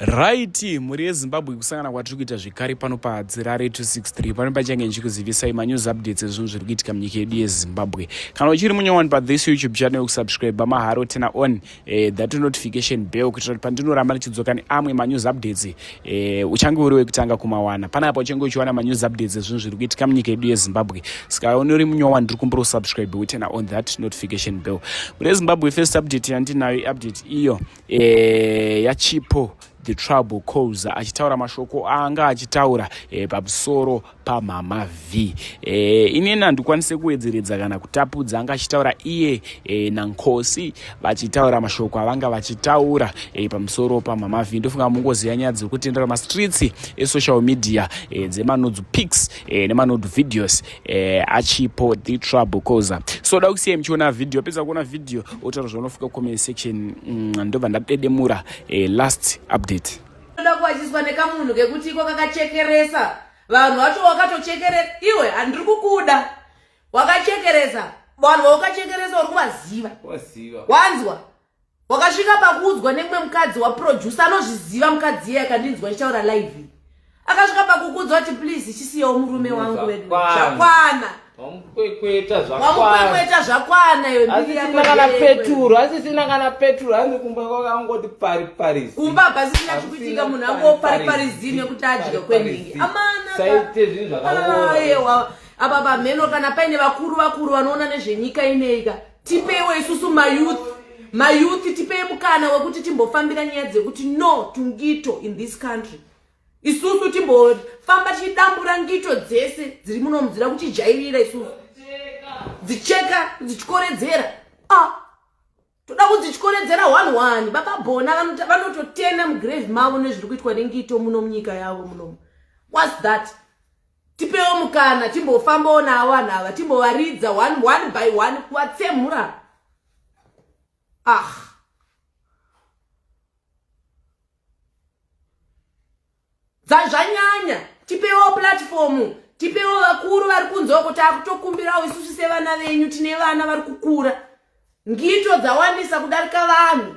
raiti mhuri yezimbabwe kusangana kwatiri kuita zvekare pano padzirare 263 pano pachange ndichikuzivisai manews updates ezvinhu zviri kuitika munyika yedu yezimbabwe kana uchiri munyowani pathis youtube channel kusubscribe maharo tena on eh, that notification bell kuitira kuti pandinoramba ndichidzoka neamwe manews updates eh, uchange uri wekutanga kumawana pana apa uchange uchiwana manews updates ezvinhu zviri kuitika munyika yedu yezimbabwe saka unori munyowani ndiri kumbira usubscribe wotena on that notification bell mhuri yezimbabwe first update yandinayo iupdate iyo e, yachipo the trouble cause achitaura mashoko anga achitaura e, pamusoro pamhama v e, eh, inini handikwanise kuwedzeredza kana kutapudza anga achitaura iye e, nankosi vachitaura mashoko avanga vachitaura e, pamusoro pamhama v ndofunga mungozi yanyaya dziri kutendera mastreets esocial media e, dzemanodu pics e, nemanodu videos eh, achipo the trouble coza so da kusiya muchiona video pesa kuona video otaura zvaunofika comment section mm, ndobva ndadedemura eh, last update ndoda kuwachiswa nekamunhu kekuti iko kakachekeresa vanhu vacho wakatochekeresa iwe handiri kukuda wakachekeresa vanhu vaukachekeresa uri kuvaziva wanzwa wakasvika pakuudzwa nemwe mukadzi waproducer anozviziva mukadzi iye akandinzwa ichitaura live akasvika pakukuudzwa kuti please chisiyewo murume wangu vedu zvakwana wamukwekweta zvakwana yoasisina kana peturu asisina kana peturu hanzi kumba kwakangoti pariparizini kumba pasisina zvikuitika munhu angopariparizini yekuti adya kwenhingi amanasaite zvinhu zvakaoaewa apa pamheno kana paine vakuru vakuru vanoona nezvenyika ineika tipeiwo isusu mayouth mayouth tipei mukana wekuti timbofambira nyaya dzekuti no tungito in this country isusu timbofamba tichidambura ngito dzese dziri munomu dzida kutijairira isusu dzicheka dzichikoredzera ah, toda kudzichikoredzera one one baba bona vanototena mugrave mavo nezviri kuitwa nengito muno munyika yavo munomu whats that tipewo mukana timbofambawo navo vanhu ava timbovaridza one one by one kuvatsemura ah dzazvanyanya tipewo platformu tipewo vakuru vari kunzwa kuti akutokumbirawo isusu sevana venyu tine vana vari kukura ngito dzawandisa kudarika vanhu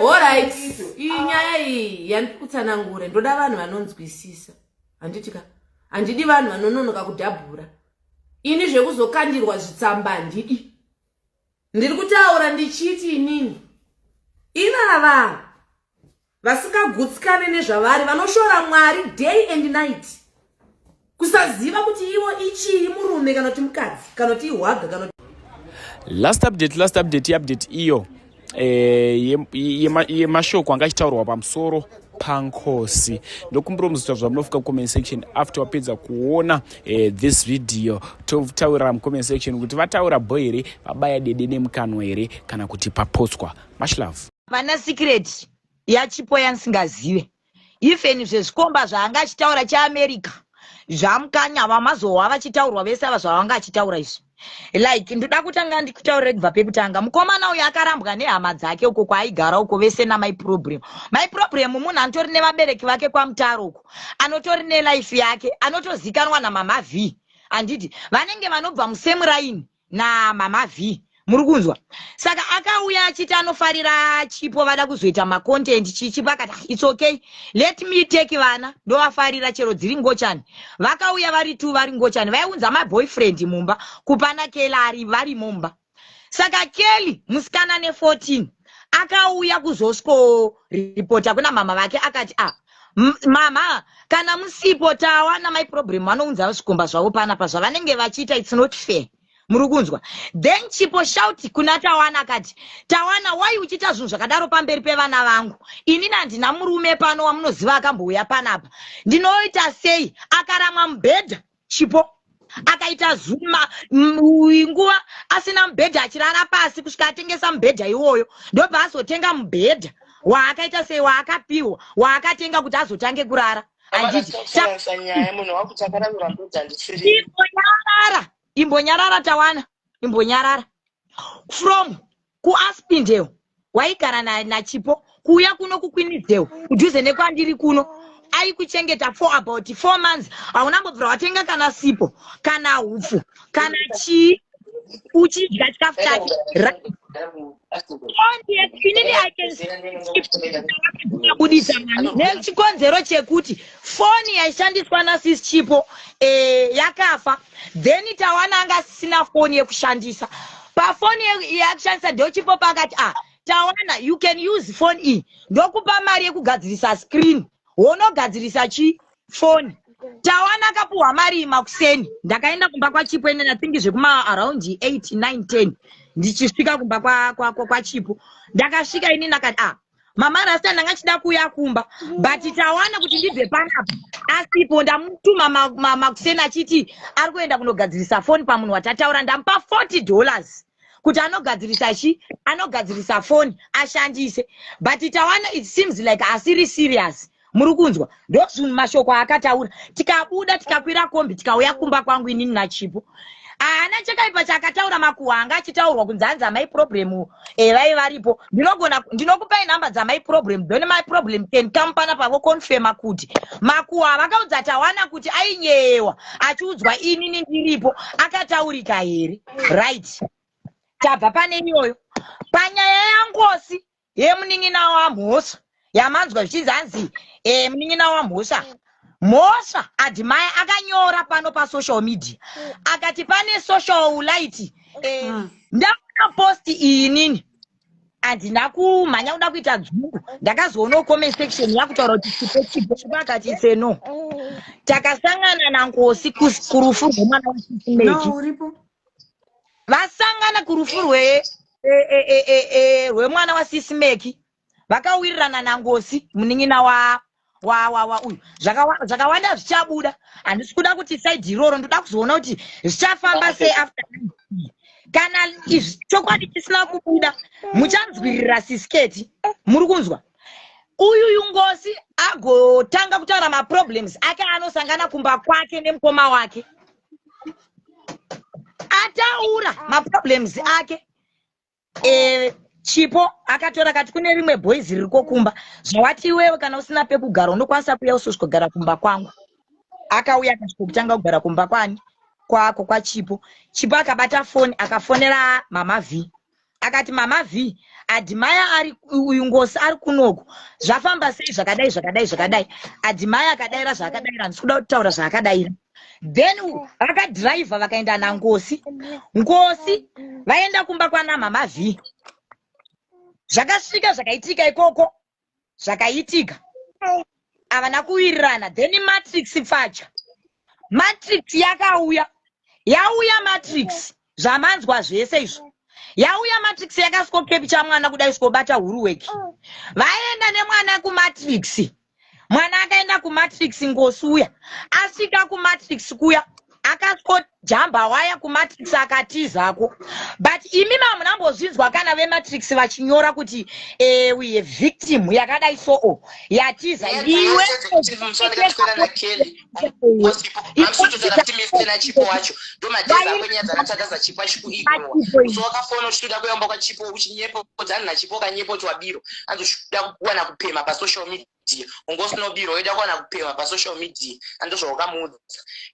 orit iyi ah. nyaya iyi yandikutsanangure ndoda vanhu vanonzwisisa handiti ka handidi vanhu vanononoka kudhabhura ini zvekuzokandirwa zvitsamba handidi ndiri kutaura ndichiti inini ivava vasingagutsikane nezvavari vanoshora mwari day and night kusaziva kuti ivo ichii murume kana kuti mukadzi kana kuti ihwaga kana last update last update iupdate iyo eh, yemashoko ye, ye anga achitaurwa pamusoro pankosi ndokumbira muzita zva munofika kucomment section after wapedza kuona eh, this video totaurira mucomment section kuti vataura bho here vabaya dede nemukanwa here kana kuti paposwa much love Vana secret yachipo yansingazive even zvezvikomba zvaanga achitaura cheamerica zvamukanya vamazohwa vachitaurwa vese ava zvavanga achitaura izvi like ndoda kutanga ndikutaurire kubva pekutanga mukomana uyo akarambwa nehama dzake uko kwaaigara uko vese namai problem mai problem munhu anotori nevabereki vake kwamutaro uko anotori nelife yake anotozikanwa namama vhii handiti vanenge vanobva musemuraini na mama Vee muri kunzwa saka akauya achiti anofarira chipo vada kuzoita macontent chichipo akati ah, its okay let me take vana ndovafarira chero dziri ngochani vakauya vari two vari ngochani vaiunza maboyfriend mumba kupana kelari vari mumba saka kelly musikana ne 14 akauya kuzosco repota kuna mama vake akati a ah, mama kana musipo tawana mai problem vanounza zvikomba zvavo panapa zvavanenge vachiita its not fair muri kunzwa then chipo shauti kuna tawana akati tawana wai uchiita zvinhu zvakadaro pamberi pevana vangu inini handina murume pano wamunoziva akambouya panapa ndinoita sei akaramwa mubhedha chipo akaita zuma nguva asina mubhedha achirara pasi kusvika atengesa mubhedha iwoyo ndobva azotenga mubhedha waakaita sei waakapiwa waakatenga kuti azotange kurara imbonyarara imbonyarara tawana imbonyarara from kuaspindewo waigara nachipo na kuuya kuno kukwinizewo kudhuze nekwandiri kuno aikuchengeta for about four months hauna mbobvira watenga kana sipo kana hupfu kana chii uchidya chikafu chake budisa mani nechikonzero chekuti foni yaishandiswa nasis chipo eh, yakafa then tawana anga asisina foni yekushandisa pafoni yakushandisa ndochipopa akati ah tawana you can use foni iyi ndokupa mari yekugadzirisa screen wonogadzirisa chi foni tawana akapuhwa mari makuseni ndakaenda kumba kwachipo ine nathingi zvekuma around 8 9 10 ndichisvika kumba kwachipo ndakasvika ini ndakati ah mama rasta ndanga ndichida kuuya kumba but tawana kuti ndibve panapa asipo ndamutuma makuseni ma, ma achiti ari kuenda kunogadzirisa foni pamunhu watataura ndamupa 40 dollars kuti anogadzirisa chi anogadzirisa foni ashandise but tawana it seems like asiri serious muri kunzwa ndozvunhu mashoko aakataura tikabuda tikakwira kombi tikauya kumba kwangu inini nachipo haana chakaipa chaakataura makuhwa anga achitaurwa kunzi hanzi amai problem evai eh, varipo ndinogona ndinokupai nhamba dzamai problem then my problem can come pana pavo confirma kuti makuhwa vakaudza tawana kuti ainyeyewa achiudzwa inini ndiripo akataurika here right tabva pane iyoyo panyaya yangosi ye munin'ina wamhosva yamanzwa zvichinzi hanzi e, munin'ina wamhosva mhosva adimaya akanyora pano pasocial media akati pane social light e, mm. ndaona posti iyi nini handina kumhanya kuda kuita dzungu ndakazoonawo comment section yakutaura kuti chipo chipo chipo akati seno takasangana nankosi kurufu rwemwana wasisimeki vasangana kurufu rwe e, e, e, e, e, rwemwana wasisi meki vakawirirana nangosi munin'ina wa wa wa wa uyu Zvakawa- zvakawanda zvichabuda handisi kuda kuti saidi iroro ndoda kuzoona kuti zvichafamba sei after kana izvi chokwadi chisina kubuda muchanzwirira sisiketi muri kunzwa uyu uyu ngosi agotanga kutaura maproblems ake anosangana kumba kwake nemukoma wake ataura maproblems ake eh, chipo akatora kati kune rimwe boys riri kokumba zvawati iwewe kana usina pekugara unokwanisa kuuya usosvikogara kumba kwangu akauya akasvikokutanga kugara kumba kwani kwako kwachipo chipo akabata foni akafonera mama vhii akati mama vhii adhimaya ari uyu ngosi ari kunoku zvafamba sei zvakadai zvakadai zvakadai adhimaya akadaira zvaakadaira handisi kuda kutaura zvaakadaira then vakadhiraivha vakaenda nangosi ngosi vaenda kumba kwana mama vhii zvakasvika zvakaitika ikoko zvakaitika avana kuwirirana then matrix pfacha matrix yakauya yauya matrix zvamanzwa zvese izvo yauya matrix yakasikokepicha mwana kuda isikobata huruweki vaenda nemwana kumatrix mwana akaenda kumatrix ngosi uya asvika kumatrix kuya akangojamba waya kumatrix akatizako but imi mamunambozvinzwa kana vematrix vachinyora kuti eh, we have victim yakadai so o yatiza Yeah, iwe that's what it is. Sorry, that's what I Kelly. Most people, I'm sure to that team is still a chipo wacho. Do my days up when you're that as a chipo chipo ego. So ka phone uchida kuyamba kwa chipo uchinyepo dzani na chipo kanyepo twa biro. Anzo shuda kuwana kupema pa social media. media ungosnobirwa woida kuwana kupemha pasocial media andozvawakamuudza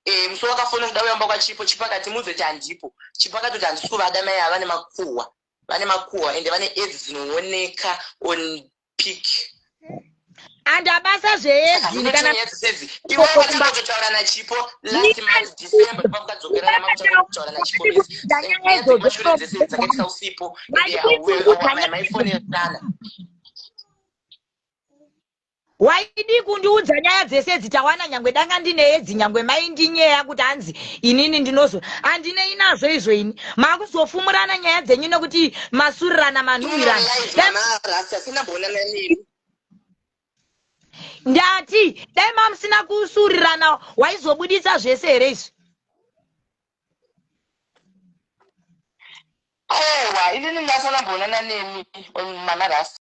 e, musi wakafona kuda kuyamba kwachipo chipo akati muudze kuti handipo chipo akati kuti handisi kuvada mai ava vane makuhwa vane makuhwa ende vane edzi dzinooneka on pic and abasa zveedziiaotaura nachipo last month december pakadzokera namakutaura nachipo dzakaitisa usipo ende hauwe maifone yatana waidii kundiudza nyaya dzese idzi tawana nyangwe danga ndine edzi nyangwe maindinyeya kuti hanzi inini ndinozo handinei nazvo izvo ini makuzofumurana nyaya dzenyu nekuti masurirana manhuwirana ndati dai mamusina kusurirana waizobuditsa zvese here izvi ewa inini ndasana bonana nemi manarasi